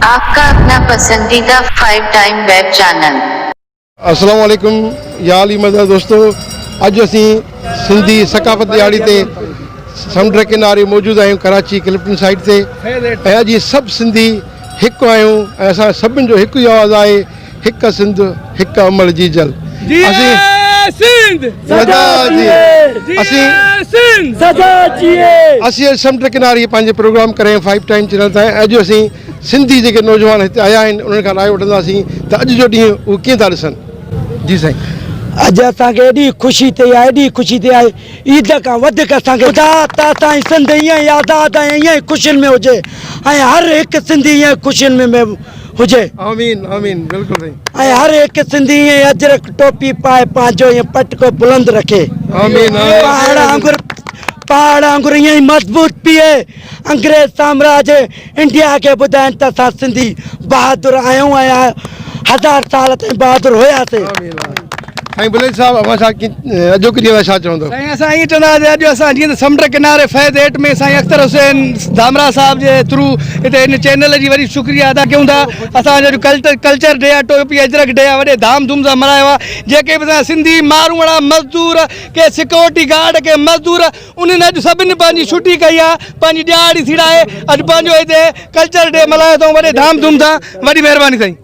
آپ ڪا اپنا پسنديده فائيو ٽائيم ويب چينل. السلام عليڪم يا علي مدد دوستو اڄ اسين سنڌي ثقافت ڏهاڙي تي سمنڊ ڪناري موجود آهيون ڪراچي ڪلفٽن سائيٽ تي ۽ اڄ سڀ سنڌي هڪ آهيون ۽ اسان سڀن جو هڪ ئي آواز آهي هڪ سنڌ هڪ امڙ جي جل. جيئي سنڌ سدا جيئي. جيئي سنڌ سدا جيئي. اسين سمنڊ ڪناري پنهنجي پروگرام ڪرين فائيو ٽائيم چينل تان ۽ اڄ اسين سنڌي جيڪي نوجوان هتي آيا آهن انهن کان راء وٺنداسين ته اڄ جو ڏينهن اهي ڪيئن ٿا ڏسن. جي سائين. اڄ اسان کي ايڏي خوشي ٿئي آهي ايڏي خوشي ٿئي آهي عيد کان وڌيڪ اسان کي خدا ته اسان جي سنڌ ائين ئي آزاد ۽ ائين ئي خوشين ۾ هجي ۽ هر هڪ سنڌي ائين ئي خوشين ۾ هجي آمين آمين بلڪل سائين ۽ هر هڪ سنڌي ائين اجرڪ ٽوپي پائي پنهنجو ائين پٽڪو بلند رکي آمين آمين پهاڙ آنگر پهاڙ آنگر ائين مضبوط پيئي انگريز سامراج انڊيا کي ٻڌائين ته اسان سنڌي بهادر آهيون ۽ هزار سال تائين بهادر هياسين آمين آمين سائين بليچ صاحب اوهان سان اڄوڪي ڏينهن لاء ڇا چوندو؟ سائين اسان ائين چوندا ته اڄ اسان جيئن ته سمنڊ ڪناري فيض ايٽ ۾ سائين اختر حسين ڌامراهه صاحب جي ٿرو هتي هن چينل جي وڏي شڪريه ادا ڪيون ٿا اسان جو ڪلٽر ڪلچر ڊي آهي ٽوپي اجرڪ ڊي آهي وڏي ڌام ڌوم سان ملهايو آهي جيڪي به اسان جا سنڌي ماروئڙا مزدور ڪي سڪيورٽي گارڊ ڪي مزدور انهن اڄ سڀني پنهنجي ڇٽي ڪئي آهي پنهنجي ڏيهاڙي سيڙائي اڄ پنهنجو هتي ڪلچر ڊي ملهايو اٿئون وڏي ڌام ڌوم سان وڏي مهرباني سائين.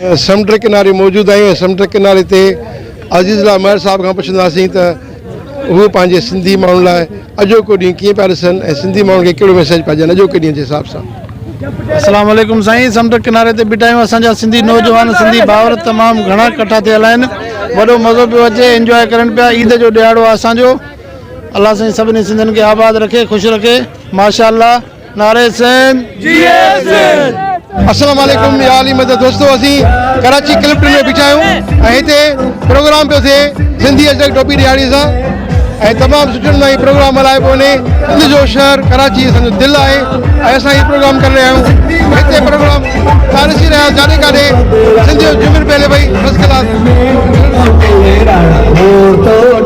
سمنڊ ڪناري موجود آهيون ۽ سمنڊ ڪناري تي عزيز الله مهر صاحب کان پڇنداسين ته هو پنهنجي سنڌي ماڻهن لاء اڄوڪو ڏينهن ڪيئن پيا ڏسن ۽ سنڌي ماڻهن کي ڪهڙو ميسيج پيا ڏين اڄوڪي ڏينهن جي حساب سان. اسلام عليڪم سائين سمنڊ ڪناري تي بيٺا آهيون اسان جا سنڌي نوجوان سنڌي ڀائر تمام گهڻا ڪٺا ٿيل آهن وڏو مزو پيو اچي انجواء ڪرن پيا عيد جو ڏهاڙو آهي اسان جو الله سائين سڀني سنڌين کي آباد رکي خوش رکي ماشاء الله. نعري سين جيئي سين. السلام عليڪم يا علي مدد دوستو اسين ڪراچي ڪلفٽن ۾ بيٺا آهيون ۽ هتي پروگرام پيو ٿئي سنڌي اجرڪ ٽوپي ڏيهاڙي سان ۽ تمام سٺي نموني هي پروگرام هلائي پيو وڃي سنڌ جو شهر ڪراچي اسان جو دل آهي ۽ اسان هي پروگرام ڪري رهيا آهيون هتي پروگرام ڏسي رهيا جاڏي ڪاڏي سنڌ جو جمن پهلي پئي فرسٽ ڪلاس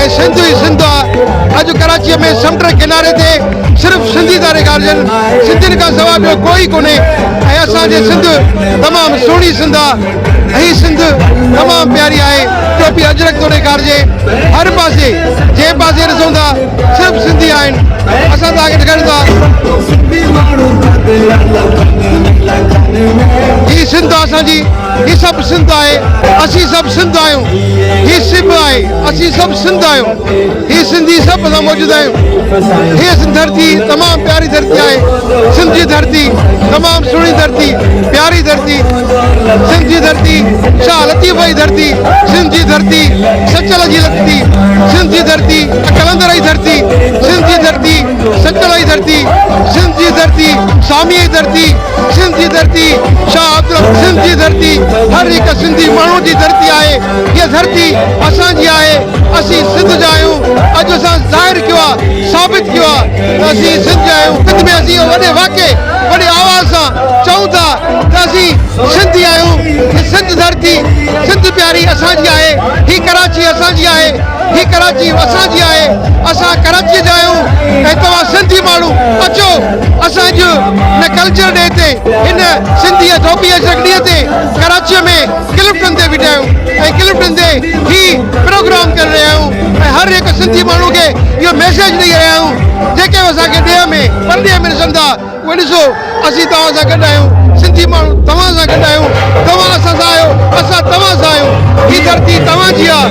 ۽ سنڌ ئي سنڌ آ اڄ ڪراچيء ۾ سمنڊ ڪناري تي صرف سنڌي ٿا ريڳارجن سنڌين کان سوا ٻيو ڪوئي ڪونهي ۽ اسان جي سنڌ تمام سهڻي سنڌ آ هي سنڌ تمام پياري آهي ٽوپي اجرڪ ٿو ڏيکارجي هر پاسي جنهن پاسي ڏسون ٿا صرف سنڌي آهن اسان توهان کي ڏيکاريون ٿا هي سنڌ آ اسان جي هي سڀ سنڌ آهي اسين سڀ سنڌ آهيون هي سڀ آهي اسين سڀ سنڌ آهيون هي سنڌي سڀ اسان موجود آهيون هي سنڌ ڌرتي تمام پياري ڌرتي آهي سنڌ جي ڌرتي تمام سهڻي ڌرتي پياري ڌرتي سنڌ جي ڌرتي شاهه لطيف جي ڌرتي سنڌ جي ڌرتي سچل جي لکتي سنڌ جي ڌرتي قلندر جي ڌرتي سنڌ جي ڌرتي سچل جي ڌرتي سنڌ جي ڌرتي سامي جي ڌرتي سنڌ جي ڌرتي شاهه عبدالحق سنڌ جي ڌرتي هر هڪ سنڌي ماڻهو جي ڌرتي آهي هيء ڌرتي اسان جي آهي اسين سنڌ جا آهيون اڄ اسان ظاهر ڪيو آهي ثابت ڪيو آهي ته اسين سنڌ جا آهيون سنڌ ۾ اسين وڏي واڪي وڏي آواز سان چئون ٿا ته اسين سنڌي آهيون هي سنڌ ڌرتي سنڌ پياري اسان جي آهي هي ڪراچي اسان جي آهي هي ڪراچي اسان جي آهي اسان ڪراچي جا آهيون ۽ توهان سنڌي ماڻهو اچو اسان جو نه ڪلچر ڊي تي هن سنڌي ايٿوپي اجرڪ ڏينهن تي ڪراچيء ۾ ڪلفٽن تي بيٺا آهيون ۽ ڪلفٽن تي هي پروگرام ڪري رهيا آهيون ۽ هر هڪ سنڌي ماڻهو کي اهو ميسيج ڏئي رهيا آهيون جيڪي به اسان کي ڏيهه ۾ پرڏيهه ۾ ڏسن ٿا اهي ڏسو اسين توهان سان گڏ آهيون سنڌي ماڻهو توهان سان گڏ آهيون توهان اسان سان آهيو اسان توهان سان آهيون هي ڌرتي توهان جي آهي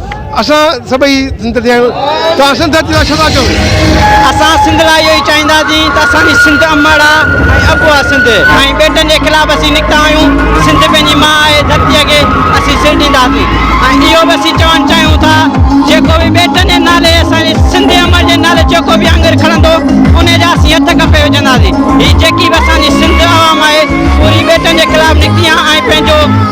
اسان سڀئي سنڌ جا آهيون توهان سنڌ جي لاء ڇو ٿا چئو؟ اسان سنڌ لاء اهو ئي چاهينداسين ته اسان جي سنڌ امڙ آهي ۽ ابو آهي سنڌ ۽ ٻيٽن جي خلاف اسين نڪتا آهيون سنڌ پنهنجي ماء آهي ڌرتيء کي اسين سر ڏينداسين ۽ اهو به اسين چوڻ چاهيون ٿا جيڪو به ٻيٽن جي نالي اسان جي سنڌ امڙ جي نالي جيڪو به آڱر کڻندو انهي جا اسين هٿ ڪپي وجهنداسين هي جيڪي به اسان جي سنڌ عوام آهي پوري ٻيٽن جي خلاف نڪتي آهي ۽ پنهنجو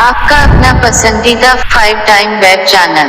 آپ ڪا اپنا پسنديده فائيو ٽائيم ويب چينل.